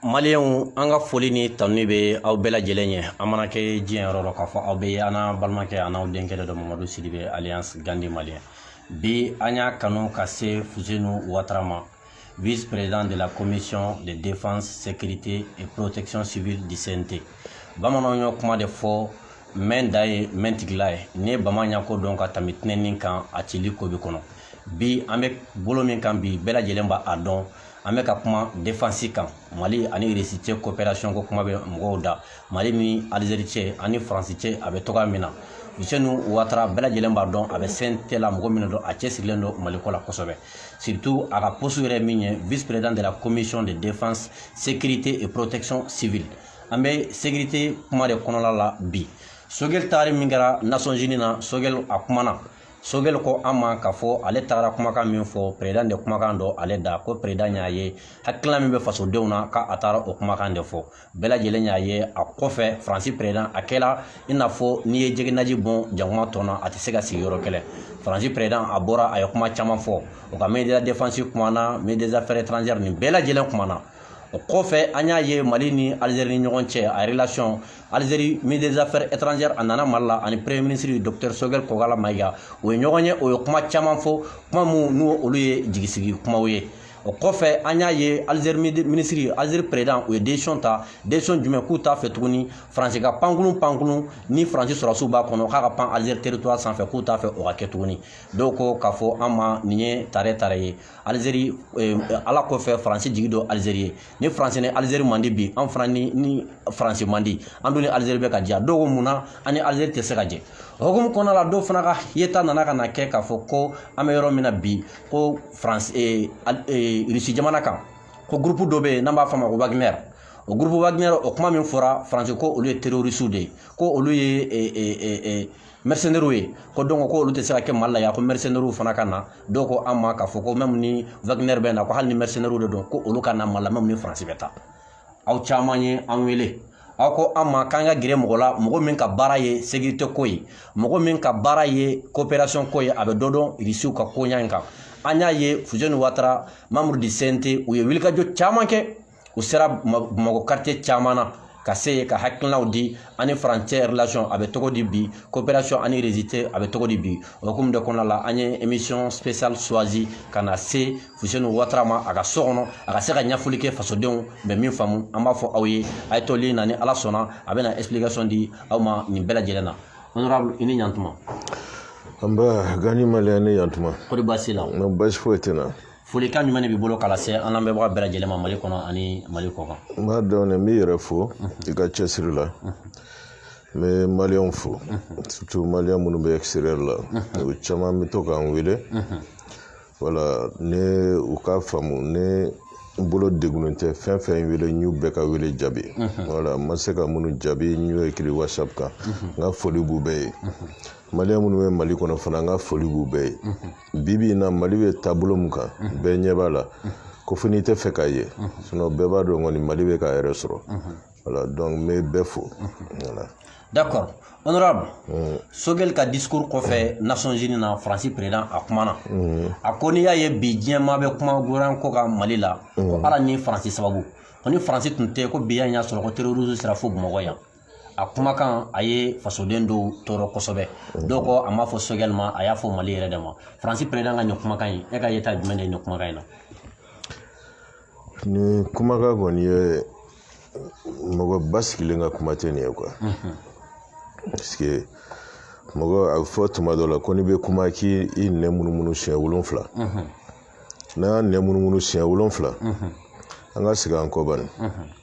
Maliens an ka foli ni tanuni bɛ aw bɛɛ lajɛlen ye an mana kɛ diɲɛ yɔrɔ dɔ k'a fɔ aw bɛ an balimakɛ an n'aw denkɛ dɔ mamadu sidibe alias gandi malien bi an y'a kanu ka se fusenu watara ma vice président de la commission de défense sécurité et protection civile du CNT bamananw y'o kuma de fɔ mɛn da ye mɛn tigila ye n'i ye bama ɲako dɔn ka tɛmɛ tinɛni kan a cili ko bi kɔnɔ bi an bɛ bolo min kan bi bɛɛ lajɛlen b'a dɔn an bɛ ka kuma defansi kan mali ani irisi cɛ coopération ko kuma bɛ mɔgɔw da mali ni alizeri cɛ ani faransi cɛ a bɛ cogoya min na Fusenu Ouattara bɛɛ lajɛlen b'a dɔn a bɛ CNT la mɔgɔ min don a cɛsirilen don Mali ko la kosɛbɛ surtout a ka poste yɛrɛ min ye vice président de la commission de défense sécurité et protection civile an bɛ sécurité kuma de kɔnɔla la bi sogɛli taari min kɛra Nations Unies na sogɛli a kumana sogɛli ko an ma k'a fɔ ale tagara kumakan min fɔ perezidan de kumakan don ale da ko perezidan y'a ye hakilina min bɛ fasodenw na k'a taara o kumakan de fɔ bɛɛ lajɛlen y'a ye a kɔfɛ faransi perezidan a kɛla i n'a fɔ n'i ye jɛgɛnaji bɔn jakuma tɔn na a tɛ se ka sigi yɔrɔ kelen faransi perezidan a bɔra a ye kuma caman fɔ o ka ministre de la défense kumana ministre des affaires étrangères nin bɛɛ lajɛlen kumana o kɔfɛ an y'a ye mali ni alizeri ni ɲɔgɔn cɛ a relation alizeri ministre des affaires étrangères a nana mali la ani premier ministre docteur sogɛl kɔgala mayiga o ye ɲɔgɔn ye o ye kuma caman fɔ kuma minnu n'olu ye jigisigi kumaw ye o kɔfɛ an y'a ye alizeri minisiri alizeri perezidan u ye décision ta décision jumɛn k'u t'a fɛ tuguni faransi ka pankurun pankurun ni faransi sɔrɔsiw b'a kɔnɔ k'a ka pan alizeri territoire sanfɛ k'u t'a fɛ o ka kɛ tuguni dɔw ko k'a fɔ an ma nin ye tare tare ye alizeri eh, ala kɔfɛ faransi jigi dɔ alizeri ye ni faransi ni alizeri man di bi an fana ni faransi man di an dun ni alizeri bɛ ka jɛ dɔw ko mun na an ni alizeri tɛ se ka jɛ o hukumu kɔnɔna la dɔw fana ka yeta nana ka na kɛ k'a fɔ ko an bɛ yɔrɔ min na bi ko faransi eh, eh, irisi jamana kan ko gurupu dɔ bɛ yen n'an b'a fɔ a ma ko wagner o gurupu wagner o kuma min fɔra faransi ko olu ye terorisiw de ye ko olu ye mercenaires ye ko donc ko olu tɛ se ka kɛ mali la yan ko mercenaires fana ka na dɔw ko an ma k'a fɔ ko même ni wagner bɛ na ko hali ni mercenaires de don ko olu ka na mali la même ni faransi bɛ taa aw caman ye an wele aw ko an ma k'an ka gɛrɛ mɔgɔ la mɔgɔ min ka baara ye sécurité ko ye mɔgɔ min ka baara ye coopération ko ye a bɛ dɔ dɔn irisiw ka koɲa in kan an y'a ye fuseni watara membre du CNT u ye wulikajɔ caman kɛ u sera bamakɔ quartier caman na ka se yen ka hakilinaw di an ni france cɛ relation a bɛ cogo di bi coopération an ni russie cɛ a bɛ cogo di bi o hukumu de kɔnɔna la an ye émission spéciale choisi ka na se fuseni watara ma a ka so kɔnɔ a ka se ka ɲɛfɔli kɛ fasodenw bɛ min faamu an b'a fɔ aw ye a ye to ligne na ni ala sɔnna a bɛna explication di aw ma nin bɛɛ lajɛlen na honorable i ni ɲantuma nba gandhi malien i ni ɲantuma kɔri baasi la baasi foyi tɛ n na folikan jumɛn de b'i bolo k'a lase an lamɛnbaga bɛɛ lajɛlen ma mali kɔnɔ ani mali kɔ kan n b'a dɔn ne n b'i yɛrɛ fo i ka cɛsiri la n bɛ maliyɛnw fo surtout maliyɛn minnu bɛ extérieur la u caman bɛ to k'an wele voilà ne u k'a faamu ne bolo degunnen tɛ fɛn fɛn wele n y'u bɛɛ ka wele jaabi voilà n ma se ka minnu jaabi n y'o écrit whatsapp kan n ka foli b'u bɛɛ ye maliyɛn minnu bɛ mali kɔnɔ fana n ka foli b'u bɛɛ ye bibi in na mali bɛ taabolo min kan bɛɛ ɲɛ b'a la ko fo n'i tɛ fɛ k'a ye sinon bɛɛ b'a dɔn kɔni mali bɛ k'a yɛrɛ sɔrɔ voilà donc n bɛ bɛɛ fo voilà d'accord honorable sogɛli ka discours kɔfɛ nations unies na faransi président a kumana a ko n'i y'a ye bi diɲɛ maa bɛ kuma gouvernement ko kan mali la ko ala ni faransi sababu ko ni faransi tun tɛ ko bi yan y'a sɔrɔ ko terroristes sera fo bamakɔ yan a kumakan a ye fasoden dɔw tɔɔrɔ kosɛbɛ dɔw ko a m'a fɔ sogɛli ma a y'a fɔ mali yɛrɛ de ma faransi président ka nin kumakan in e ka yeta jumɛn de ye nin kumakan in na nin kumakan kɔni ye mɔgɔ basigilen ka kuma tɛ nin ye quoi parce que mɔgɔ a bɛ fɔ tuma dɔ la ko n'i bɛ kuma k'i i nɛn munumunu siɲɛ wolonfila n'an y'an nɛn munumunu siɲɛ wolonfila an ka segin an kɔ bani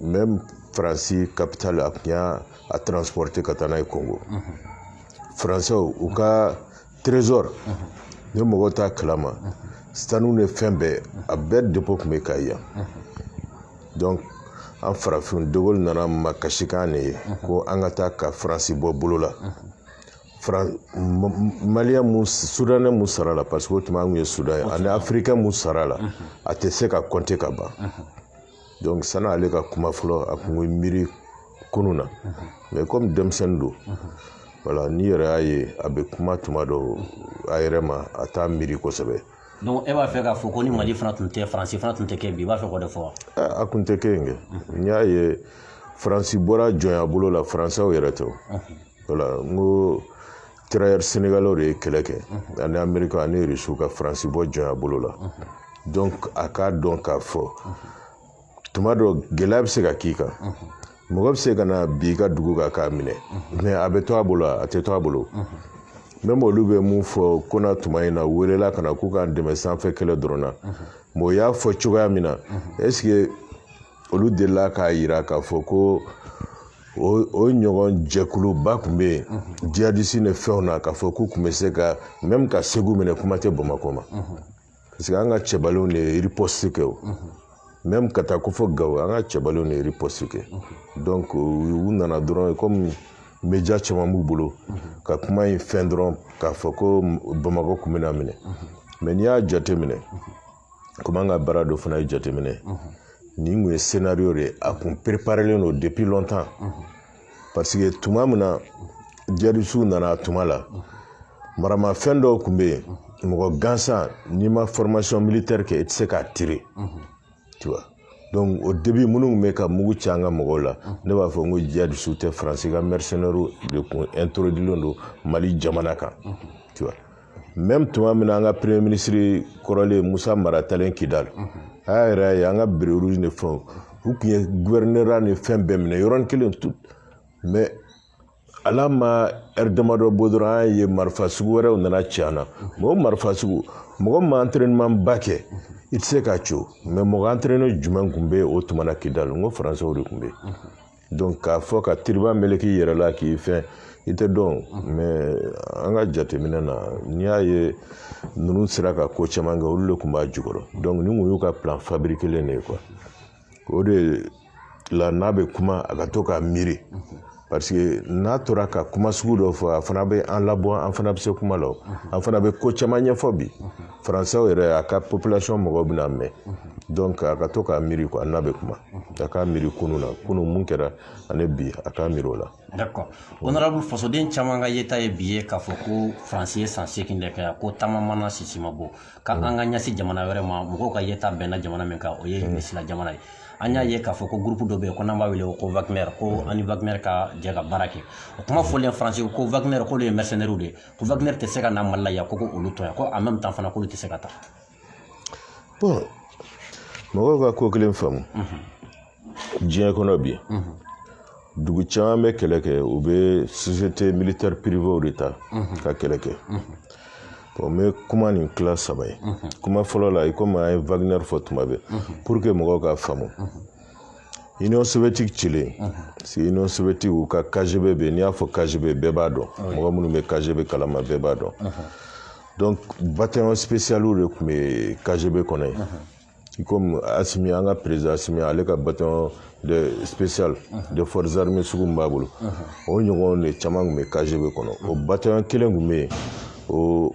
même faransi capitale a tun y'a a transporter ka taa n'a ye kongo faransɛw u ka trésor ni mɔgɔw t'a kalama sanu ni fɛn bɛɛ a bɛɛ dépôt tun bɛ kɛ yan donc an farafin de gaulle nana makasikan de ye ko an ka taa ka faransi bɔ bolo la maliyɛn mun soudanais mun sara a la parce que o tuma an tun ye sudan ye ani africain mun sara a la a tɛ se ka compter ka ban donc sani ale ka kuma fɔlɔ a kun bɛ miiri kunun na mais comme denmisɛnnin don voilà n'i yɛrɛ y'a ye a bɛ kuma tuma dɔw a yɛrɛ ma a t'a miiri kosɛbɛ donc e b'a fɛ k'a fɔ ko ni mali fana tun tɛ faransi fana tun tɛ kɛ bi i b'a fɛ k'o de fɔ wa a kun tɛ kɛ yen kɛ n'i y'a ye faransi bɔra jɔnya bolo la faransɛw yɛrɛ tɛ voilà n ko tirailleurs sénégalais de ye kɛlɛ kɛ ani amerika ani rusiw ka faransi bɔ jɔnya bolo la donc a k'a dɔn k'a fɔ tuma dɔ gɛlɛya bɛ se ka k'i kan mɔgɔ bɛ se ka na bi ka dugu kan k'a minɛ mais a bɛ to a bolo a tɛ to a bolo même olu bɛ mun fɔ ko na tuma in na welela ka na k'u k'an dɛmɛ sanfɛ kɛlɛ dɔrɔn na mais o y'a fɔ cogoya min na est ce que olu delila k'a yira k'a fɔ ko o ɲɔgɔn jɛkuluba tun bɛ yen jihadisi ni fɛnw na k'a fɔ k'u tun bɛ se ka même ka segu minɛ kuma tɛ bamakɔ ma parce que an ka cɛbalenw de ye riposte kɛ o même ka taa ko fo gawo an ka cɛbalenw de ye riposte kɛ donc u nana dɔrɔn komi media caman b'u bolo ka kuma in fɛn dɔrɔn k'a fɔ ko bamakɔ tun bɛna minɛ mais n'i y'a jate minɛ komi an ka baara dɔ fana ye jateminɛ nin kun ye scénario de ye a kun préparelen don depuis longtemps parce que tuma min na jihadisiw nana a tuma la maramafɛn dɔw tun bɛ yen mɔgɔ gansan n'i ma formation militaire kɛ i tɛ se k'a tire tu vois donc au début minnu tun bɛ ka mugu ci an ka mɔgɔw la ne b'a fɔ n ko jihadisiw tɛ faransi ka mercenaires de kun introduilen don mali jamana kan tu vois même tuma min na an ka premier ministre kɔrɔlen musa mara talen kidali a y'a yɛrɛ ye an ka béret rouge ni fɛnw u tun ye gouverneur ni fɛn bɛɛ minɛ yɔrɔnin kelen tout mais ala ma heure damadɔ bɔ dɔrɔn an ye marifa sugu wɛrɛw nana ci an na mais o marifa sugu mɔgɔ min ma entraînement ba kɛ i tɛ se k'a ci o mais mɔgɔ entraîné jumɛn tun bɛ o tuma na kidali n ko faransɛw de tun bɛ yen donc k'a fɔ ka turban meleke i yɛrɛ la k'i fɛn i tɛ dɔn mais an ka jateminɛ na n'i y'a ye ninnu sera ka ko caman kɛ olu de tun b'a jukɔrɔ donc nin kun y'u ka plan fabriquelen de ye quoi o de la n'a bɛ kuma a ka to k'a miiri parce que n'a tora ka kuma sugu dɔ fɔ a fana bɛ an labɔ an fana bɛ se kuma la an fana bɛ ko caman ɲɛfɔ bi faransɛw yɛrɛ a ka population mɔgɔw bɛna mɛn donc a ka to k'a miiri quoi n'a bɛ kuma a k'a miiri kunu na kunu mun kɛra ani bi a k'a miiri o la d'accord honorable fasoden caman ka yeta ye bi ye k'a fɔ ko faransi ye san seegin de kɛ ko ta ma mana sisi ma bɔ k'an ka ɲɛsin jamana wɛrɛ ma mɔgɔw ka yeta bɛnna jamana min kan o ye irisila jamana ye an y'a ye k'a fɔ ko groupe dɔ bɛ yen ko n'an b'a wele ko wagner ko an ni wagner ka jɛ ka baara kɛ o kuma fɔlen faransi ko wagner k'olu ye mercenaires de ye ko Wagner tɛ se ka na Mali la yan ko ko olu to yan ko en même temps fana k'olu tɛ se ka taa bon mɔgɔw ka ko kelen faamu diɲɛ kɔnɔ bi dugu caman bɛ kɛlɛ kɛ u bɛ société militaire privée de ta ka kɛlɛ kɛ bon n bɛ kuma nin tila saba ye kuma fɔlɔ la i komi an ye Wagner fɔ tuma bɛɛ pour que mɔgɔw ka faamu Union soviétique cilen parce que Union soviétique u ka KGB bɛ n'i y'a fɔ KGB bɛɛ b'a dɔn mɔgɔ minnu bɛ KGB kalama bɛɛ b'a dɔn donc bataillon spécialiw de tun bɛ KGB kɔnɔ yen i komi Asimi an ka président Asimi ale ka bataillon de spécial de forces armées sugu min b'a bolo o ɲɔgɔn de caman tun bɛ KGB kɔnɔ o bataillon kelen tun bɛ yen o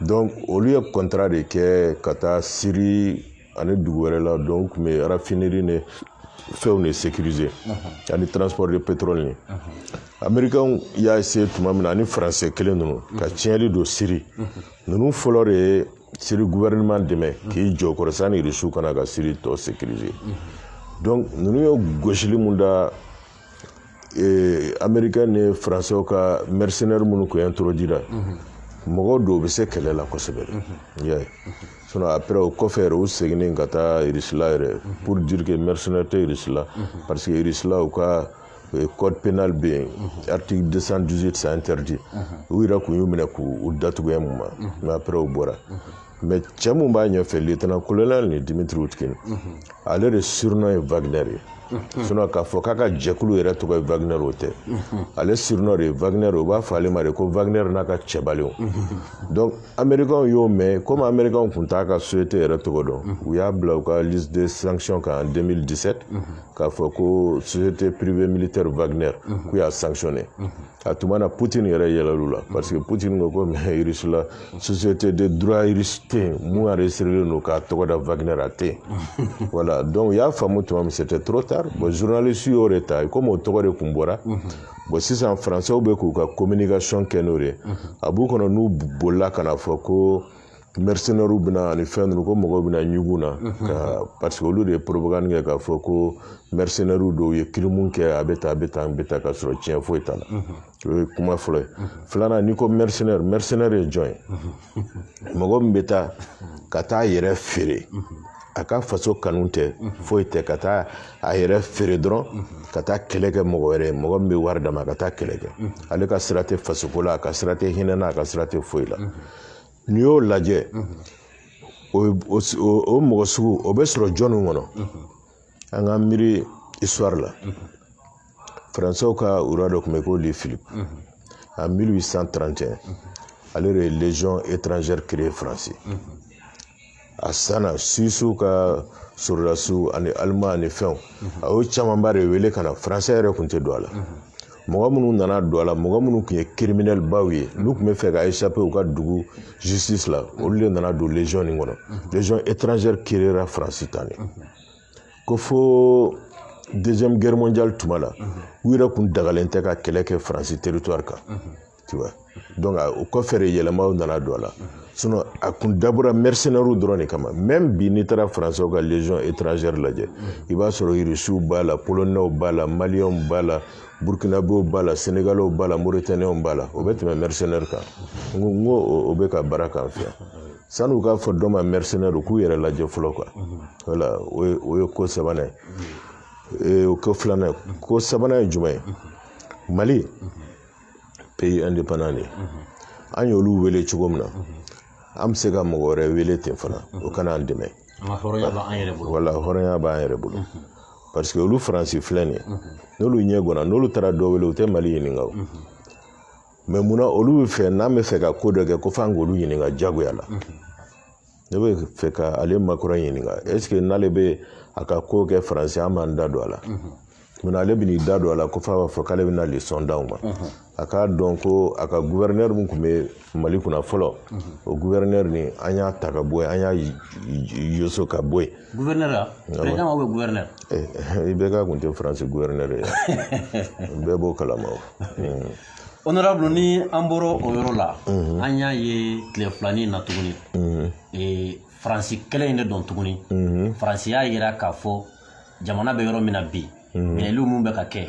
donc olu ye kɔntara de kɛ ka taa siri ani dugu wɛrɛ la donc u tun bɛ rafiniri ni fɛnw de sekirize ani transport de petrol ni amerikanw y'a essayé tuma min na ani faransɛ kelen ninnu ka tiɲɛli don siri ninnu fɔlɔ de ye siri gouvernement dɛmɛ k'i jɔ kɔrɔ sanni irisiw ka na ka siri tɔ sekirize donc ninnu ye gosili mun da ee amerikɛn ni faransɛw ka mɛrisinɛri minnu tun introduira mɔgɔ dɔw bɛ se kɛlɛ la kosɛbɛ de ye sinɔn apɛrɛ o kɔfɛ yɛrɛ u seginnen ka taa irisila yɛrɛ pour dire que mɛrisinɛri tɛ irisila parce que irisila u ka euh, code pénal bɛ yen article 218 c'est interdit u yɛrɛ tun y'u minɛ k'u u datugu un moment mais apɛrɛ u bɔra mɛ cɛ min b'a ɲɛfɛ litana kolonɛli ni Dimitri Utkin ale de surunɔ ye wagner ye sinɔ k'a fɔ k'a ka jɛkulu yɛrɛ tɔgɔ ye wagner o tɛ ale surunɔ de ye wagner u b'a fɔ ale ma de ko wagner n'a ka cɛbalenw donc amerikanw y'o mɛn komi amerikanw tun t'a ka société yɛrɛ tɔgɔ dɔn u y'a bila u ka liste de sanction kan en 2017 k'a fɔ ko société privée militaire wagner k'u y'a sanctionner a tuma na putin yɛrɛ yɛlɛl'u la parce que putin ko ko mɛ irisi la société de droit irisi tɛ yen mun enregistrelen don k'a tɔgɔ da wagner a tɛ yen voilà donc u y'a faamu tuma min c'était trop tard bon journaliste y'o de ta komi o tɔgɔ de tun bɔra bon sisan français bɛ k'u ka communication kɛ n'o de ye a b'u kɔnɔ n'u bolila ka na fɔ ko mɛrisenɛriw bɛ na ani fɛn ninnu ko mɔgɔw bɛna ɲugun na ka parce que olu de ye propagande kɛ k'a fɔ ko mɛrisenɛriw dɔw ye kirimu kɛ a bɛ tan a bɛ tan a bɛ tan ka sɔrɔ tiɲɛ foyi t'a la o ye kuma fɔlɔ ye filanan n'i ko mɛrisenɛri mɛrisenɛri ye jɔn ye mɔgɔ min bɛ taa ka taa a yɛrɛ feere a ka faso kanu tɛ foyi tɛ ka taa a yɛrɛ feere dɔrɔn ka taa kɛlɛ kɛ mɔgɔ wɛrɛ ye mɔgɔ min bɛ wari d'a ma a ka taa kɛlɛ kɛ ale ka sira tɛ fasoko la a ka sira tɛ hinɛ na a ka sira tɛ foyi la n'i y'o lajɛ o mɔgɔ sugu o bɛ sɔrɔ jɔnni kɔnɔ an ka miiri histoire la faransiw ka roi dɔ tun bɛ yen ko Louis Philippe en 1831 ale de ye légion étrangère créer faransi a sanna Suisse ka sɔrɔdasiw ani Allemand ani fɛnw a y'o camanba de wele ka na faransɛ yɛrɛ tun tɛ don a la mɔgɔ minnu nana don a la mɔgɔ minnu tun ye kiriminɛli baw ye n'u tun bɛ fɛ ka échapper u ka dugu justice la olu de nana don légion nin kɔnɔ légion étrangère créera faransi tan de ko fo deuxième guerre mondiale tuma la u yɛrɛ tun dagalen tɛ ka kɛlɛ kɛ faransi territoire kan tu vois donc o kɔfɛ de yɛlɛmaw nana don a la sinon a kun dabɔra mercenaires dɔrɔn de kama même bi n'i taara français ka légion étrangère lajɛ i b'a sɔrɔ irisiw b'a la polonɛw b'a la maliyɛnw b'a la burkinabew b'a la senegalɛw b'a la mauritanienw b'a la o bɛ tɛmɛ mercenaire kan n ko n ko o bɛ ka baara k'an fɛ yan sani u k'a fɔ dɔ ma mercenaire u k'u yɛrɛ lajɛ fɔlɔ quoi voilà o ye o ye ko sabanan ye o ko filanan ko sabanan ye jumɛn ye mali pays indépendant de an y'olu wele cogo min na an bɛ se ka mɔgɔ wɛrɛ wele ten fana o ka na an dɛmɛ voilà hɔrɔnya b'an yɛrɛ bolo parce que olu faransi filɛ nin ye n'olu ɲɛ gɔnna n'olu taara dɔ wele u tɛ mali ɲininka o mais munna olu bɛ fɛ n'an bɛ fɛ ka ko dɔ kɛ ko f'an k'olu ɲininka jagoya la ne bɛ fɛ ka ale Macron ɲininka est-ce que n'ale bɛ a ka ko kɛ faransi an b'an da don a la munna ale bɛ n'i da don a la ko f'a b'a fɔ k'ale bɛna leçon d'aw ma a k'a dɔn ko a ka guvɛrinɛri min tun bɛ mali kunna fɔlɔ o guvɛrinɛri nin an y'a ta ka bɔ yen an y'a yoso ka bɔ yen guvɛrinɛri a bɛɛ aw bɛ guvɛrinɛri IBK kun tɛ faransi guvɛrinɛri ye bɛɛ b'o kalama o Honorable ni an bɔra o yɔrɔ la, an y'a ye tile filanin in na tuguni, Faransi kelen in de don tuguni, Faransi y'a jira k'a fɔ jamana bɛ yɔrɔ min na bi, minɛli minnu bɛ ka kɛ,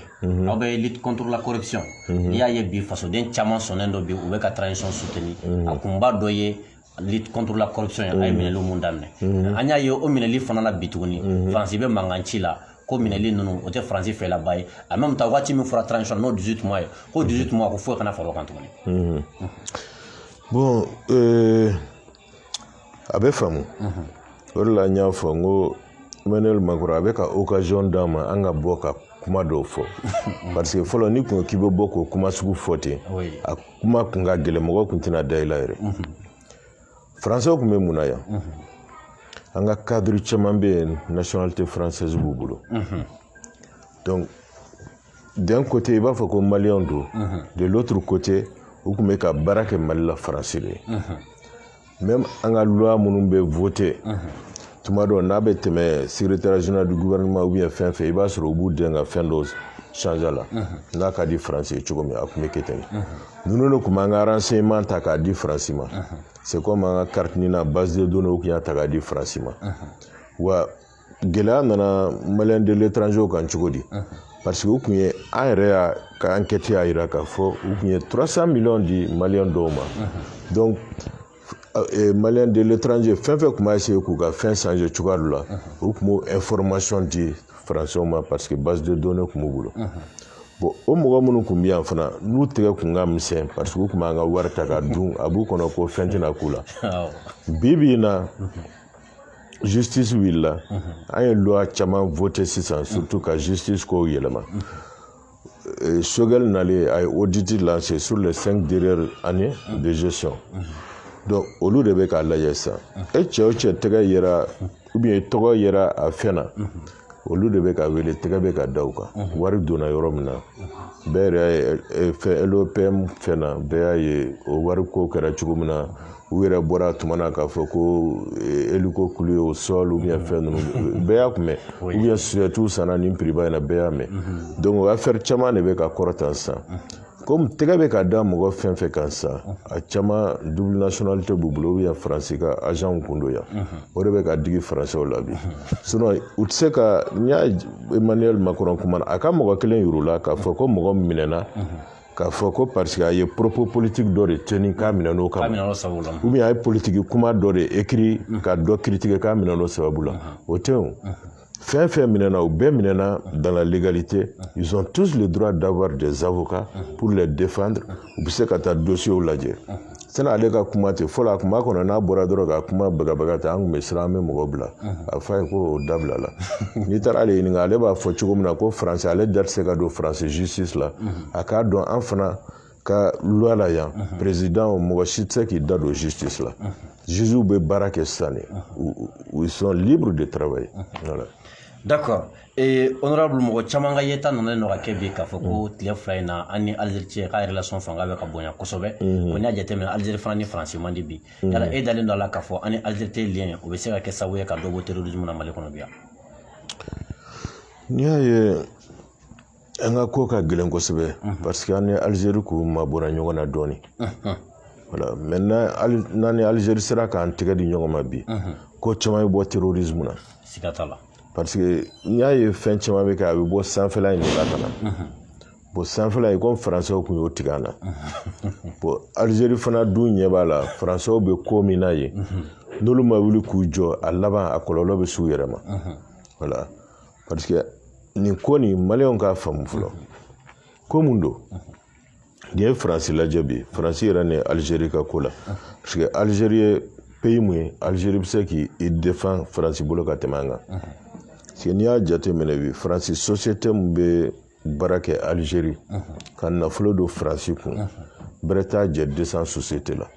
aw bɛ lutte contre la corruption n'i y'a ye bi fasoden caman sɔnnen don bi u bɛ ka transition soutenir a kunba dɔ ye lutte contre la corruption ye a ye minɛli mun daminɛ an y'a ye o minɛli fana na bi tuguni faransi bɛ mankan ci la ko minɛli ninnu o tɛ faransi fɛlaba ye en même temps waati min fɔra transition n'o 18 mois ye ko 18 mois ko foyi kana fara o kan tuguni bon a bɛ faamu o de la n y'a fɔ n ko Emmanuel Macron a bɛ ka occasion d'an ma an ka bɔ ka kuma dɔw fɔ parce que fɔlɔ n'i kun k'i bɛ bɔ k'o kuma sugu fɔ ten a kuma kun ka gɛlɛn mɔgɔ kun tɛna da i la yɛrɛ français kun bɛ mun na yan an ka cadre caman bɛ yen nationalité française b'u bolo donc d'un côté i b'a fɔ ko maliyɛnw don de l'autre côté u kun bɛ ka baara kɛ mali la faransi de ye même an ka loi minnu bɛ voter tuma dɔ n'a bɛ tɛmɛ secrétaire général du gouvernement ou bien fɛn fɛn i b'a sɔrɔ u b'u dɛn ka fɛn dɔ change a la n'a ka di faransi ye cogo min a kun bɛ kɛ ten ninnu de kun b'an ka renseignement ta k'a di faransi ma c'est comme an ka carte NINA base de données u kun y'a ta k'a di faransi ma wa gɛlɛya nana maliyɛn de l'étranger kan cogo di parce que u kun ye an yɛrɛ y'a ka enquête y'a jira k'a fɔ u kun ye 300 miliyɔn di maliyɛn dɔw ma donc euh, maliyɛn de l'étranger fɛn fɛn kun b'a essayer k'u ka fɛn changer cogoya dɔ la u kun b'o information di français ma parce que base de données kun b'u bolo bon o mɔgɔ minnu kun bɛ yan fana n'u tɛgɛ kun ka misɛn parce que u kun b'an ka wari ta ka dun a b'u kɔnɔ ko fɛn tɛna k'u la bi bi in na justice wulila an ye loi caman vote sisan surtout ka justice kow yɛlɛma euh, Choguel nalen a ye audit lance sur les cinq dernières années de gestion donc olu de bɛ k'a lajɛ sisan e cɛ o cɛ tɛgɛ yera ou bien tɔgɔ yera a fɛn na olu de bɛ ka wele tɛgɛ bɛ ka da u kan wari donna yɔrɔ min na bɛɛ yɛrɛ y'a ye fɛn LOPM fɛn na bɛɛ y'a ye o wari ko kɛra cogo min na u yɛrɛ bɔra a tuma na k'a fɔ ko hélico cloué au sol ou bien fɛn ninnu bɛɛ y'a kun mɛn ou bien sosɛtiw sanna nin prix ba in na bɛɛ y'a mɛn donc o afɛri caman de bɛ ka kɔrɔta sisan komi tɛgɛ bɛ ka da mɔgɔ fɛn fɛn kan sisan a caman double nationalité b'u bolo ou bien faransi ka agentw kun don yan o de bɛ ka digi faransɛw la bi sinon u tɛ se ka n y'a Emmanuel Macron kumana a ka mɔgɔ kelen yir'u la k'a fɔ ko mɔgɔ minɛna k'a fɔ ko parce que a ye propos politique dɔ de tenir k'a minɛ n'o kama ou bien a ye politiki kuma dɔ de écrit ka dɔ critiquer k'a minɛ n'o sababu la o tɛ o fɛn fɛn minɛna u bɛɛ minɛna dans la légalité ils ont tous le droit d'avoir des avocats pour les défendre u bɛ se ka taa dossiers lajɛ sani ale ka kuma tɛ fɔlɔ a kuma kɔnɔ n'a bɔra dɔrɔn ka kuma bagabaga ta an kun bɛ siran an bɛ mɔgɔ bila a fɔ a ye ko o dabila la n'i taara ale ɲininka ale b'a fɔ cogo min na ko faransi ale da tɛ se ka don faransi justice la a k'a dɔn an fana ka loi la yan président mɔgɔ si tɛ se k'i da don justice la juges bɛ baara kɛ sisan de ils sont libres de travailler voilà d'accord ee honorable mɔgɔ caman ka yeta na nalen don ka kɛ bi k'a fɔ ko tile fila in na an ni Algérie cɛ ka relation fanga bɛ ka bonya kosɛbɛ o n'i y'a jateminɛ Algérie fana ni Faransi man di bi yala e dalen don a la k'a fɔ an ni Algérie cɛ lien o bɛ se ka kɛ sababu ye ka dɔ bɔ terrorisme na Mali kɔnɔ bi yan n'i y'a ye an ka ko ka gɛlɛn kosɛbɛ parce que an ni alizeri ko mabɔra ɲɔgɔn na dɔɔnin voilà maintenant n'an ni alizeri sera k'an tɛgɛ di ɲɔgɔn ma bi ko caman bɛ bɔ terrorisme na siga t'a la parce que n'i y'a ye fɛn caman bɛ kɛ a bɛ bɔ sanfɛla in de la ka na bon sanfɛla in komi faransɛw tun y'o tigɛ an na bon alizeri fana dun ɲɛ b'a la faransɛw bɛ ko min na yen n'olu ma wuli k'u jɔ a laban a kɔlɔlɔ bɛ s'u yɛrɛ ma voilà nin ko nin maliyɛnw k'a faamu fɔlɔ ko mun don n'i ye faransi lajɛ bi faransi yɛrɛ ni alizeri ka ko la parce que alizeri ye peyi mun ye alizeri bɛ se k'i defan faransi bolo ka tɛmɛ an kan parce que n'i y'a jateminɛ bi faransi sosiyete min bɛ baara kɛ alizeri ka nafolo don faransi kun bɛrɛ t'a jɛ 200 sosiyete la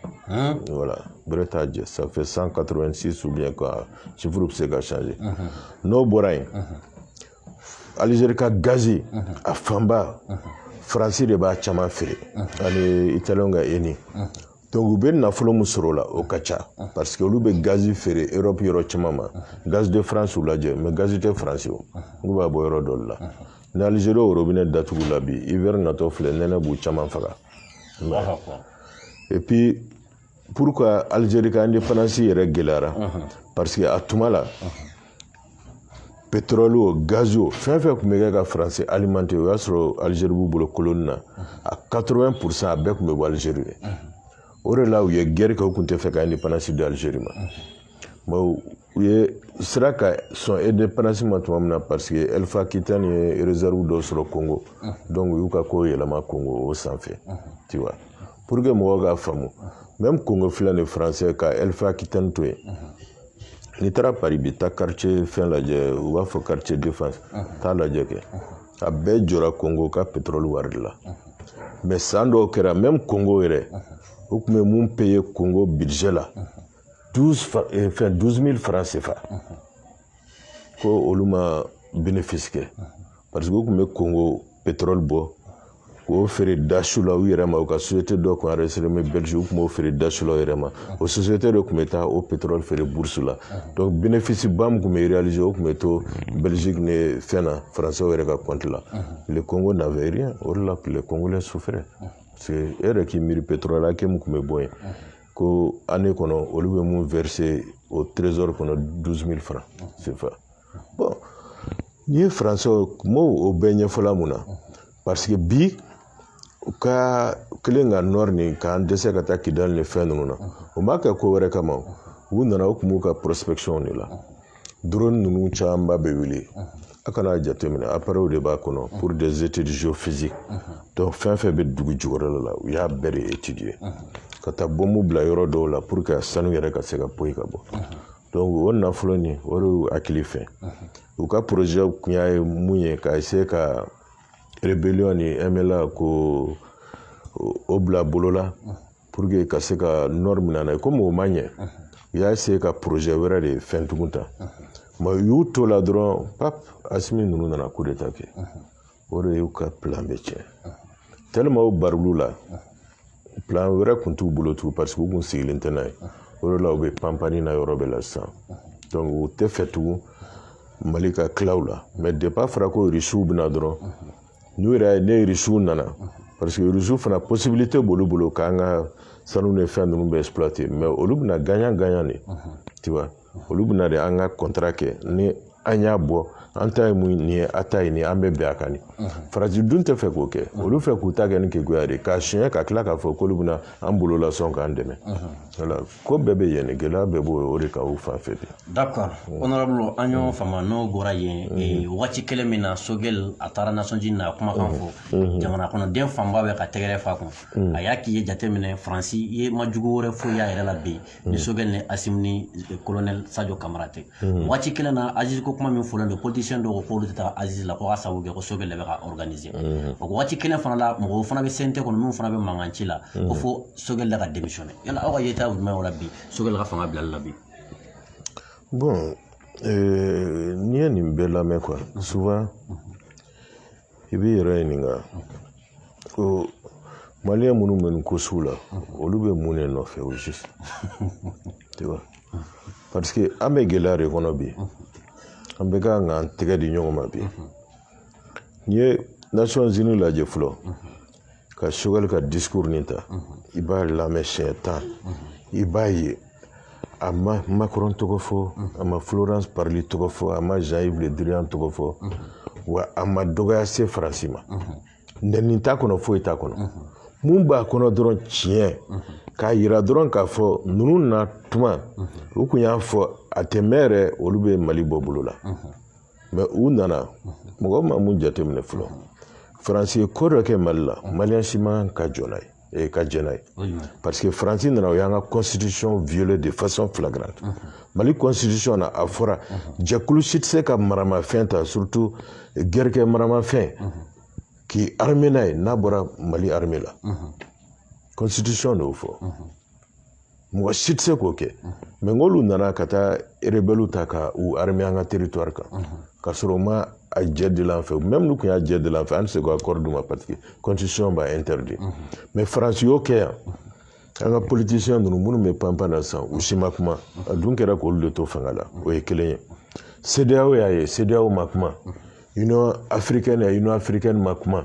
voilà bɛrɛ t'a jɛ ça fait 186 ou bien quoi chiffre bɛ se ka changer n'o bɔra yen alizeri ka gazi a fanba faransi de b'a caman feere ani italiyɛnw ka eni Donc u bɛ nafolo min sɔrɔ o la o ka ca parce que olu bɛ gazi feere Europe yɔrɔ caman ma gaz de France u lajɛ mais gazi tɛ faransi olu b'a bɔ yɔrɔ dɔ de la ni Algérie o robinet datugula bi hiver natɔ filɛ nɛnɛ b'u caman faga et puis pourquoi Algérie ka indépendance yɛrɛ gɛlɛyara parce que a tuma la petroli o gazi o fɛn fɛn tun bɛ kɛ ka faransi alimante o y'a sɔrɔ alizeri b'u bolo koloni na a 80 pourcent a bɛɛ tun bɛ bɔ alizeri de o de la u ye gɛri kɛ u tun tɛ fɛ ka indépendance di alizeri ma u ye sera ka sɔn indépendance ma tuma min na parce que Elf Aquitaine ye réserve dɔ sɔrɔ congo donc u y'u ka ko yɛlɛma congo o sanfɛ tu vois pour que mɔgɔw k'a faamu même congo filɛ nin français ka Elf Aquitaine to yen n'i taara Paris bi taa quartier fɛn lajɛ u b'a fɔ quartier Défense taa lajɛ kɛ a bɛɛ jɔra kongo ka petrɔli wari de la mais san dɔw kɛra même kongo yɛrɛ u tun bɛ mun payer kongo budget la 12 eh, fɛn 12 000 francs CFA ko olu ma bénéfice kɛ parce que u tun bɛ kongo petrol bɔ k'o feere dasu la u yɛrɛ ma u ka société dɔ tun enregistrélen bɛ Belgique u tun b'o feere dasu la u yɛrɛ ma o société de tun bɛ taa o petrol feere bourse la donc bénéfice ba min tun bɛ réaliser o tun bɛ to Belgique ni fɛn na français yɛrɛ ka compte la le Congo n'avait rien o de la les Congolais souffraient parce que e yɛrɛ k'i miiri petrol hakɛ min tun bɛ bɔ yen ko année kɔnɔ olu bɛ mun verser o trésor kɔnɔ 12000 francs CFA n'i ye faransi m'o bɛɛ ɲɛfɔla mun na parce que bi u ka kelen ka nɔri nin k'an dɛsɛ ka taa kidali ni fɛn ninnu na o ma kɛ ko wɛrɛ kama u nana u tun b'u ka prospection de la drone ninnu camanba bɛ wuli a kana jateminɛ appareil de b'a kɔnɔ pour des études géophysiques donc fɛn fɛn bɛ dugu jukɔrɔ la u y'a bɛɛ de étudier ka taa bɔnmu bila yɔrɔ dɔw la pour que sanu yɛrɛ ka se ka poyi ka bɔ o nafolo nin o de y'u hakili fɛ u ka projet kun y'a ye mun ye ka essayer ka rébellion ni MNLA ko o bila bolo la pour que ka se ka nɔri minɛ n'a ye komi o ma ɲɛ u y'a essayer ka projet wɛrɛ de fɛn tugun ta mais u y'u to la dɔrɔn pap asimi ninnu nana coup d'état kɛ o de y'u ka plan bɛɛ tiɲɛ tellement o baril'u la plan wɛrɛ kun t'u bolo tugun parce que u kun sigilen tɛ n'a ye o de la u bɛ panpanni na yɔrɔ bɛɛ la sisan donc u tɛ fɛ tugun mali ka tila u la mais depuis a fɔra ko irisiw bɛna dɔrɔn n'u yɛrɛ ye ni irisiw nana parce que irisiw fana possibilité b'olu bolo k'an ka sanu ni fɛn ninnu bɛɛ exploiter mais olu bɛna gagnant gagnant de tu vois olu bɛna de an ka contrat kɛ ni an y'a bɔ an ta ye mun nin ye a ta ye nin an bɛ bɛn a kan nin faransi dun tɛ fɛ k'o kɛ olu fɛ k'u ta kɛ ni keguya de k'a siɲɛ ka tila k'a fɔ k'olu bɛna an bolo lasɔn k'an dɛmɛ voilà ko bɛɛ bɛ yen gɛlɛya bɛɛ b'o de kan u fan fɛ de d'accord honorable an y'o faamu n'o bɔra yen eh, waati kelen min na sogɛl a taara Nations Unies na a kumakan fɔ jamana kɔnɔden fanba bɛ ka tɛgɛrɛ f'a kun a y'a k'i y'a jateminɛ faransi yɛrɛ ma jugu wɛrɛ foyi y'a yɛrɛ la bi mm. ni sogɛli ni asimi ni kolonɛli sajo kamara tɛ mm. waati kelen na assises ko kuma min fɔlen don politicien dɔw ko k'olu tɛ taa assises la ko ka sababu kɛ ko sogɛli de bɛ k'a organiser mm. o waati kelen fana la mɔgɔw fana bɛ CNT kɔnɔ minnu fana bɛ mankan ci la ko fo sogɛli de ka démissionner yala aw ka yeta ye jumɛn o la bi sogɛli ka fanga bilali la bi bon n'i ye nin bɛɛ lamɛn quoi souvent i b'i yɛrɛ ɲininka ko maliyɛn minnu bɛ nin ko sugu la olu bɛ mun de nɔfɛ au juste parce que an bɛ gɛlɛya de kɔnɔ bi an bɛɛ ka kan k'an tɛgɛ di ɲɔgɔn ma bi n'i ye Nations Unies lajɛ fɔlɔ ka sogɛli ka discours nin ta i b'a lamɛn siɲɛ tan i b'a ye a ma Macron tɔgɔ fɔ a ma Florence Parly tɔgɔ fɔ a ma Jean-Yves Le Drian tɔgɔ fɔ wa a ma dɔgɔya se Faransi ma nɛni t'a kɔnɔ foyi t'a kɔnɔ mun b'a kɔnɔ dɔrɔn tiɲɛ k'a yira dɔrɔn k'a fɔ ninnu na tuma u kun y'a fɔ a tɛ mɛɛn yɛrɛ olu bɛ Mali bɔ bolo la mais u nana mɔgɔ ma mun jateminɛ fɔlɔ faransi ye ko dɔ kɛ mali la maliyɛn si man ka jɔ n'a ye ee ka jɛ n'a ye parce que faransi nana o y'an ka constitution violer de façon flagrante mali constitution na a fɔra jɛkulu si tɛ se ka maramafɛn ta surtout gɛrɛkɛ maramafɛn k'i armer n'a ye n'a bɔra mali armée la constitution de y'o fɔ mɔgɔ si tɛ se k'o kɛ mais n'olu nana ka taa rebelles ta ka u armer an ka territoire kan ka sɔrɔ u ma a jɛ del'an fɛ même n'u tun y'a jɛ del'an fɛ an tɛ se k'accord d'u ma parce que constitution b'a interdit mais faransi y'o kɛ yan an ka politiciens ninnu minnu bɛ panpan na sisan u si ma kuma a dun kɛra k'olu de to fanga la o ye kelen ye CEDEAO y'a ye CEDEAO ma kuma Union africaine y'a ye Union africaine ma kuma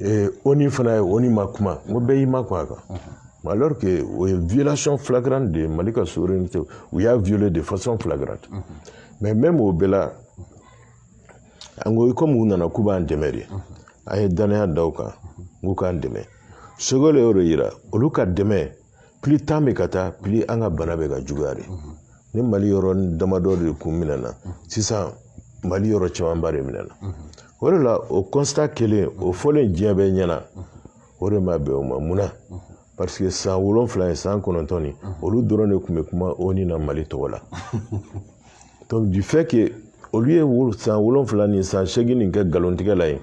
eh, ONU fana ye ONU ma kuma n ko bɛɛ y'i makun a kan alors que o ye violation flagrante de ye Mali ka souveraineté u y'a violer de façon flagrante mais même o bɛɛ la an ko komi u nana k'u b'an dɛmɛ de an ye danaya da u kan k'u k'an dɛmɛ Sogɛli y'o de yira olu ka dɛmɛ plus temps bɛ ka taa plus an ka bana bɛ ka juguya de ni mali yɔrɔ damadɔ de kun minɛna sisan mali yɔrɔ camanba de minɛna o de la o constat kelen o fɔlen diɲɛ bɛɛ ɲɛna o de ma bɛn o ma mun na parce que san wolonfila ye san kɔnɔntɔn nin olu dɔrɔn de tun bɛ kuma ONU na mali tɔgɔ la donc du fait que olu ye san wolonfila ni san seegin nin kɛ nkalontigɛ la ye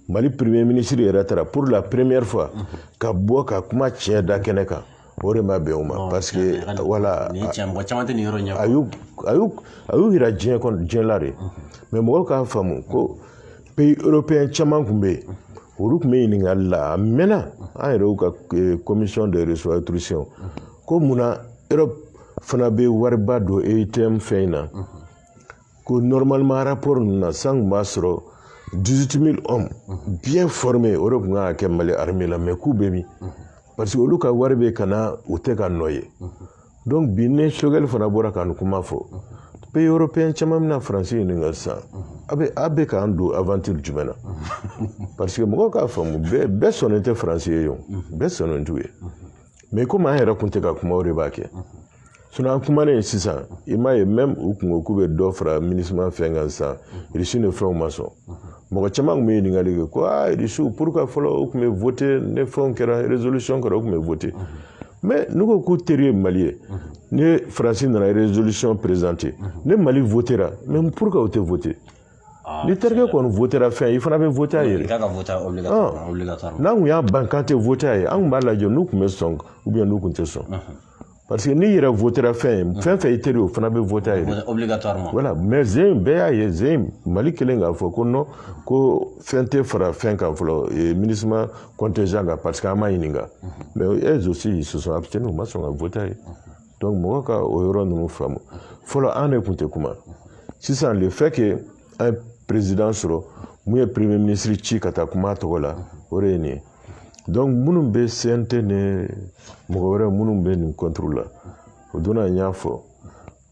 mali premier ministre yɛrɛ taara pour la première fois ka bɔ ka kuma tiɲɛ da kɛnɛ kan o de ma bɛn o ma parce que voilà a y'u yira diɲɛ la de mais mɔgɔw k'a faamu ko pays européen caman tun bɛ yen olu tun bɛ ɲininkali la a mɛnna an yɛrɛw ka commission de restructuration ko mun na europe fana bɛ wariba don EUTM fɛn in na ko normalement rapport ninnu na san kun b'a sɔrɔ 18000 hommes bien formés o de tun kan ka kɛ mali armée la mais k'u bɛ min parce que olu ka wari bɛ ka na u tɛ k'a nɔ ye donc bi ni sogɛli fana bɔra ka nin kuma fɔ pays européen caman bɛna faransi ɲininka sisan a bɛ a bɛ k'an don aventure jumɛn na parce que mɔgɔw k'a faamu bɛɛ bɛɛ sɔnnen tɛ faransi ye o bɛɛ sɔnnen t'u ye mais komi an yɛrɛ kun tɛ ka kuma o de b'a kɛ an kumalen sisan i m'a ye même u kun ko k'u bɛ dɔ fara MINUSMA fɛn kan sisan irisi ni fɛnw ma sɔn mɔgɔ caman kun bɛ ɲininkali kɛ ko aa irisiw pourquoi fɔlɔ u kun bɛ voter ni fɛnw kɛra résolution kɛra u kun bɛ voter mais n'u ko k'u teri ye mali ye ni faransi nana résolution présenter ni mali votera mais pourquoi u tɛ voter ni terikɛ kɔni fɛn i fana bɛ yɛrɛ n'a tun y'a ban tɛ ye an tun b'a lajɛ n'u tun bɛ sɔn n'u tun tɛ sɔn parce que n'i yɛrɛ fɛn fɛn fɛn i teri o fana bɛ mɛ zen bɛɛ y'a ye zen mali kelen k'a fɔ ko ko fɛn tɛ fara fɛn kan fɔlɔ mini kɔn tɛ jan kan pa que an ma ɲininka mɛ e soso a bɛ se u ma sɔn ka ye mɔgɔ ka o yɔrɔ ninnu faamu fɔlɔ an de tun tɛ kuma sisan le fait que an ye président sɔrɔ mun ye premier ministre ci ka taa kuma a tɔgɔ la o de ye nin ye donc minnu bɛ cnt ni mɔgɔ wɛrɛ minnu bɛ nin contre la o don na n y'a fɔ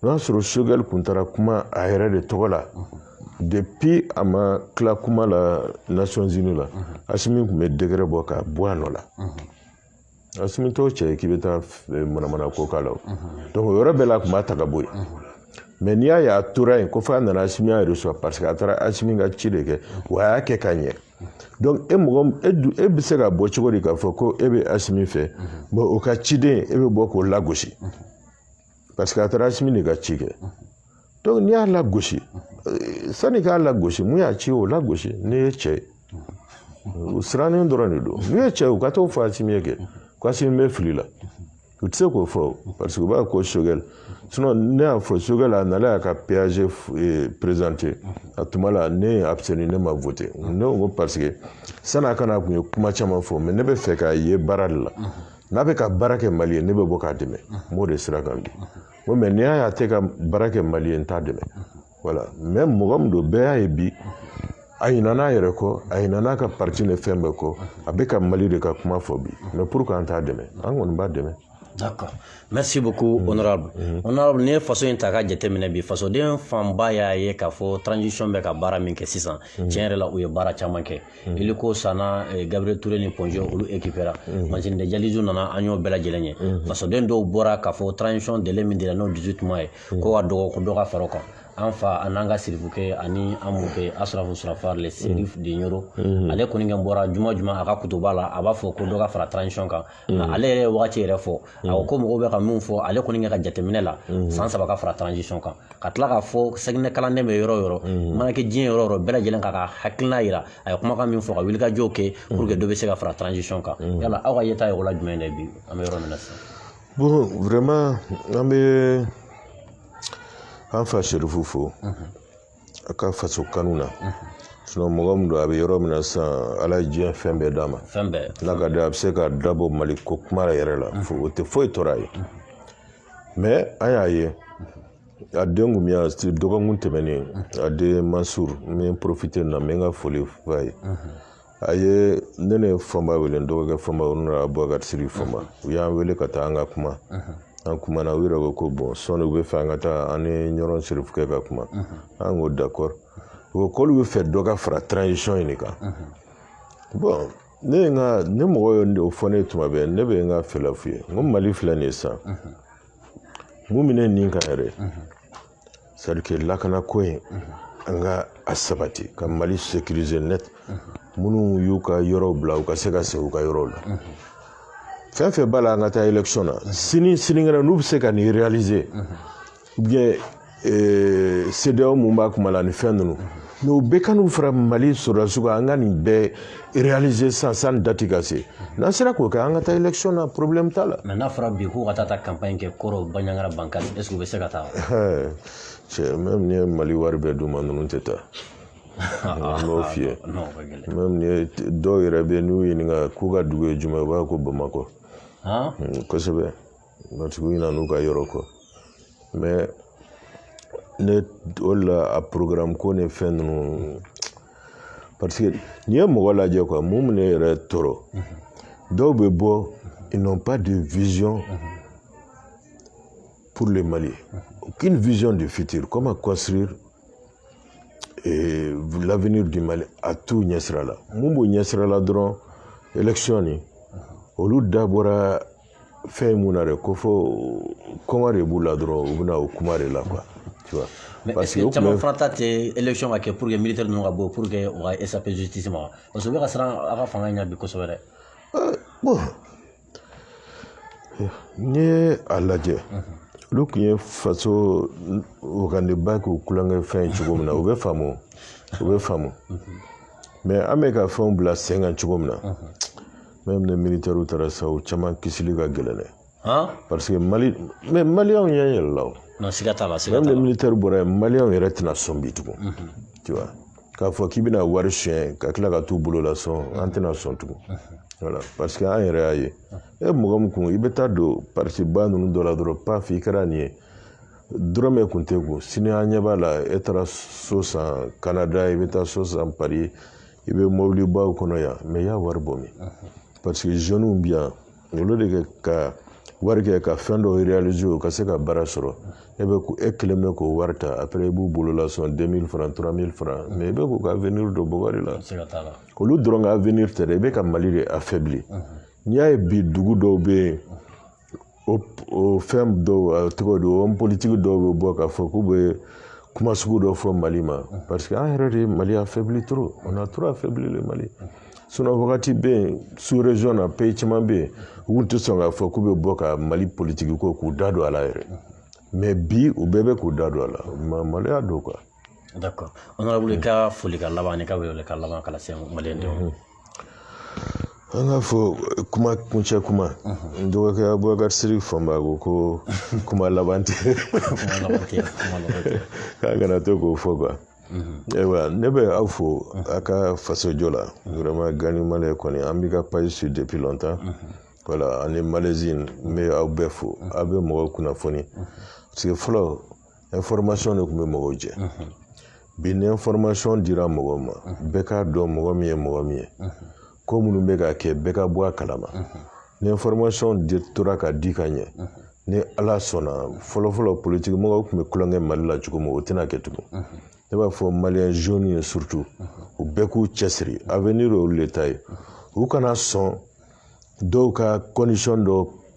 n'a sɔrɔ choguel tun taara kuma a yɛrɛ de tɔgɔ la depuis a ma tila kuma la nations unies la asimi tun bɛ décret bɔ k'a bɔ a nɔ la asimi t'o cɛ k'i bɛ taa manamana ko k'a la donc o yɔrɔ bɛɛ la a tun b'a ta k'a bɔ yen mais n'i y'a ye a tora yen ko f'a nana asimi y'a recevoir parce que a taara asimi ka ci de kɛ wa a y'a kɛ ka ɲɛ donc mɔgɔ e bɛ se ka bɔ cogo di k'a fɔ ko e bɛ asimi fɛ mais o ka ciden e bɛ bɔ k'o lagosi parce que a taara asimi de ka ci kɛ donc n'i y'a lagosi sani k'a lagosi mun y'a ci o lagosi n'i ye cɛ ye u sirannen dɔrɔn de don n'u ye cɛ ye u ka t'o fɔ asimi ye kɛ ko asimi bɛ fili la u tɛ se k'o fɔ parce que u b'a ko choguel sinon ne y'a fɔ choguel a nana y'a ka pag eh, présenter a tuma la ne ye abstenir ne ma voter ne ko parce que san'a ka na a tun ye kuma caman fɔ mais ne bɛ fɛ k'a ye baara de la n'a bɛ ka baara kɛ mali ye ne bɛ bɔ k'a dɛmɛ n b'o de sira kan bi ko mais n'i y'a ye a tɛ ka baara kɛ mali ye n t'a dɛmɛ voilà mais mɔgɔ min don bɛɛ y'a ye bi a ɲinana n'a yɛrɛ kɔ a ɲinana n'a ka parti ni fɛn bɛɛ kɔ a bɛ ka mali de ka kuma fɔ bi mais pourquoi an t'a dɛmɛ an kɔni b'a dɛmɛ D'accord. Merci beaucoup, mm. honorable. Mm. Honorable, n'i faso in ta k'a jateminɛ bi fasoden fanba y'a ye k'a fɔ transition bɛ ka baara min kɛ sisan mm. tiɲɛ yɛrɛ la u ye baara caman kɛ Hmm. Hélico sanna eh, Gabriel Touré ni Point G olu équipera hmm. machine de dialyse nana an y'o bɛɛ lajɛlen ye hmm. fasoden dɔw bɔra k'a fɔ transition délai min dira n'o 18 mois ye k'o ka dɔgɔ ko dɔ ka fara o kan an fa an'an ka sirifukɛ ani an mɔkɛ asrafu surafar le chérif de Nioro ale kɔni kɛ bɔra juma juma a ka kutuba la a b'a fɔ ko dɔ ka fara transition kan nka ale yɛrɛ ye wagati yɛrɛ fɔ a ko ko mɔgɔw bɛ ka min fɔ ale kɔni kɛ ka jateminɛ la san saba ka fara transition kan ka tila k'a fɔ sɛginɛ kalanden bɛ yɔrɔ o yɔrɔ mana kɛ diɲɛ yɔrɔ o yɔrɔ bɛɛ lajɛlen k'a ka hakilina yira a ye kumakan min fɔ ka wulikajɔw kɛ pour que dɔ bɛ se ka fara transition kan yala aw ka yeta ye o la jumɛn de ye bi an bɛ yɔrɔ min na sisan bon vraiment an bɛ an fa serifu fo a ka faso kanu na sinon mɔgɔ min don a bɛ yɔrɔ min na sisan ala ye diɲɛ fɛn bɛɛ d'a ma fɛn bɛɛ n'a ka di a bɛ se ka dabɔ mali ko kuma yɛrɛ la o tɛ foyi tɔɔrɔ a ye mais an y'a ye a den kun bɛ yan dɔgɔkun tɛmɛnen a den mansur n bɛ profiter na n bɛ n ka foli f'a ye a ye ne ne fɔmba wele n dɔgɔkɛ fɔmba u nana bubakari siri fɔmba u y'an wele ka taa an ka kuma an kumana u yɛrɛ ko ko bon sɔni u bɛ fɛ an ka taa an ni ɲɔrɔn serifukɛ ka kuma an ko d'accord u ko k'olu bɛ fɛ dɔ ka fara transition in de kan bon ne ye n ka ne mɔgɔ ye o fɔ ne tuma bɛɛ ne bɛ n ka fɛla f'u ye n ko mali filɛ nin ye sisan mun bɛ ne nin kan yɛrɛ c'est à dire que lakana ko in an ka a sabati ka mali sécuriser net minnu y'u ka yɔrɔw bila u ka se ka se u ka yɔrɔw la fɛn fɛn b'a la an ka taa élection na sini sinikɛnɛ n'u bɛ se ka nin réaliser ou bien CEDEAO mun b'a kuma la ni fɛn ninnu mais u bɛɛ ka n'u fara mali sɔrɔdasiw kan an ka nin bɛɛ réaliser sisan sani date ka se n'an sera k'o kɛ an ka taa élection na problème t'a la mais n'a fɔra bi k'u ka taa taa campagne kɛ koro bandiagara bankasi est ce que u bɛ se ka taa cɛ même ni ye mali wari bɛɛ d'u ma ninnu tɛ taa n b'o f'i ye même ni ye dɔw yɛrɛ bɛ n'u ɲininka k'u ka dugu ye jumɛn u b'a ko bamakɔ kosɛbɛ matigi ɲinan'u ka yɔrɔ kɔ mais ne o de la a programme ko ni fɛn ninnu parce que n'i ye mɔgɔ lajɛ quoi mun bɛ ne yɛrɛ tɔɔrɔ dɔw bɛ bɔ ils n'ont pas de vision pour le Mali aucune vision du futur comment construire eh, l'avenir du Mali a t'u ɲɛsira la mun b'u ɲɛsira la dɔrɔn élection nin olu da bɔra fɛn mun na dɛ ko fɔ kɔngɔ de b'u la dɔrɔn u bɛna o kuma de la quoi tu vois Mais est ce que caman fana ta tɛ élection ka kɛ pour que militaire ninnu ka bɔ pour que u ka échapper justice ma parce que u bɛ ka siran a ka fanga in ɲɛ bi kosɛbɛ dɛ. bon n'i ye a lajɛ. olu tun ye faso wagandenba k'u kulonkɛ fɛn ye cogo min na u bɛ faamu u bɛ faamu mais an bɛ ka fɛnw bila sen kan cogo min na Même les militaires taara sa u caman kisili ka gɛlɛn dɛ han parce que mali mais maliyɛnw ɲɛ yɛlɛla o non siga t'a la siga t'a la même les militaires bɔra yen maliyɛnw yɛrɛ tɛna sɔn bi tugun tu vois k'a fɔ k'i bɛna wari suɲɛ ka tila ka t'u bolo la sɔn an tɛna sɔn tugun voilà parce que an yɛrɛ y'a ye e mɔgɔ min kun i bɛ taa don parti ba ninnu dɔ la dɔrɔn paf i kɛra nin ye dɔrɔmɛ kun t'e kun sini an ɲɛ b'a la e taara so san canada i bɛ taa so san paris i bɛ mɔbilibaw kɔnɔ yan mais i y'a wari bɔ min parce que jeunes bi yan olu de kɛ ka wari kɛ ka fɛn dɔw réaliser o ka se ka baara sɔrɔ e kelen bɛ k'o wari ta après i b'u bolola sɔn 2000 francs 3000 francs mais i bɛ k'u ka avenir don bɔgɔ de la olu dɔrɔn ka avenir tɛ dɛ i bɛ ka mali de affaibli n'i y'a ye bi dugu dɔw bɛ yen o o fɛn dɔw a tɔgɔ di homme politique dɔw bɛ bɔ k'a fɔ k'u bɛ kuma sugu dɔ fɔ mali ma parce que an yɛrɛ de ye mali affaibli trop on a trop affaibli le mali sinon wagati bɛ yen sous région na pays caman bɛ yen u tun tɛ sɔn k'a fɔ k'u bɛ bɔ ka mali politigi ko k'u da don a la yɛrɛ mais bi u bɛɛ bɛ k'u da don a la maloya don quoi D'accord. Honorable i ka folikan laban ani ka welewelekan laban ka lase Maliyɛn denw ma. An ka fɔ kuma kuncɛ kuma n dɔgɔkɛ Abubakar Siriki Fɔnba ko kuma laban tɛ k'a kana to k'o fɔ quoi. Ayiwa ne bɛ aw fo a ka fasojɔ la vraiment Gandhi Malien kɔni an b'i ka page suit depuis longtemps voilà ani Malaisie n bɛ aw bɛɛ fo aw bɛ mɔgɔw kunnafoni parce que fɔlɔ de tun bɛ mɔgɔw jɛ bi ni information dira mɔgɔw ma bɛɛ k'a dɔn mɔgɔ min ye mɔgɔ min ye ko minnu bɛ ka kɛ bɛɛ ka bɔ a kalama ni information tora ka di ka ɲɛ ni ala sɔnna fɔlɔfɔlɔ politigi mɔgɔw tun bɛ tulonkɛ mali la cogo min o tɛna kɛ tugun ne b'a fɔ maliyɛn jeunes ye surtout u bɛɛ k'u cɛsiri avenir olu de ta ye u kana sɔn dɔw ka condition dɔ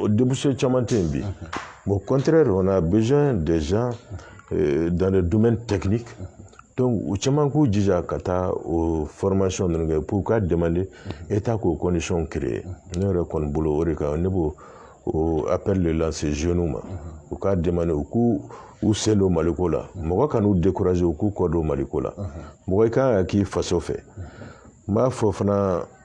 o denmuso caman tɛ yen bi bon kɔnte don na bɛ dɛsɛ dan dumuni tɛ u caman k'u jija ka taa o fɔrɔmasɔn ninnu kɛ k'u ka dɛmɛ e ta k'o kɔnsɔn kelen ne yɛrɛ kɔni bolo o de kan ne b'o apli la zoni ma u ka dɛmɛ u k' u sen don maliko la mɔgɔ ka n'u dekkurae u k'u kɔ don maliko la mɔgɔ kan ka k'i faso fɛ n b'a fɔ fana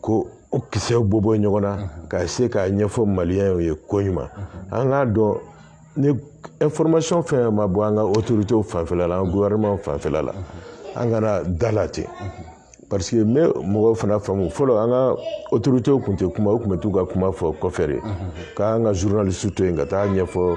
ko o kisɛw bɔ bɔ ɲɔgɔn na ka se k'a ɲɛfɔ maliyɛnw ye ko ɲuman an k'a dɔn ni information fɛn ma bɔ an ka autorités fanfɛla la an gouvernement fanfɛla la an kana da la ten parce que n bɛ mɔgɔw fana faamu fɔlɔ an ka autorités kun tɛ kuma u kun bɛ t'u ka kuma fɔ kɔfɛ de k'an ka journaliste to yen ka taa ɲɛfɔ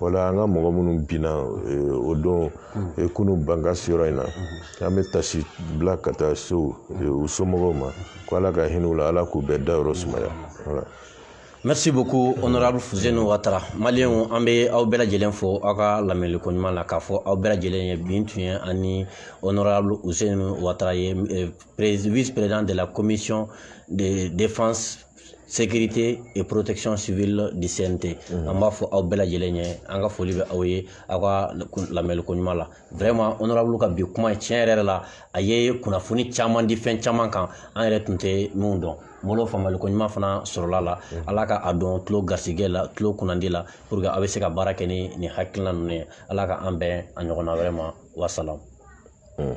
wala an ka mɔgɔ minnu binna o don kunu bankasi yɔrɔ in na an bɛ tasi bila ka taa so u somɔgɔw ma ko ala ka hinɛ u la ala k'u bɛɛ dayɔrɔ sumaya merci beaucoup honorable fuseni watara maliyɛnw an bɛ aw bɛɛ lajɛlen fo aw ka lamɛnli ko ɲuman na k'a fɔ aw bɛɛ lajɛlen ye bin tun ye ani honorable fuseni watara ye vice président de la commission de défense sécurité et protection civile du CNT mhm. an b'a fɔ aw bɛɛ lajɛlen ɲɛ an ka foli bɛ aw ye aw ka lamɛliko ɲuman la vraiment honorable ka bi kuma tiɲɛ yɛrɛ la a ye kunnafoni caman di fɛn caman kan an yɛrɛ tun tɛ minnu dɔn fɔlɔ faamuyaliko ɲuman fana sɔrɔla la mhm. ala ka a don tulo garisɛgɛ la tulo kunnandi la pour que aw bɛ se ka baara kɛ ni nin hakilina ninnu ye ala ka an bɛn a ɲɔgɔnna wɛrɛ ma wasalam mhm.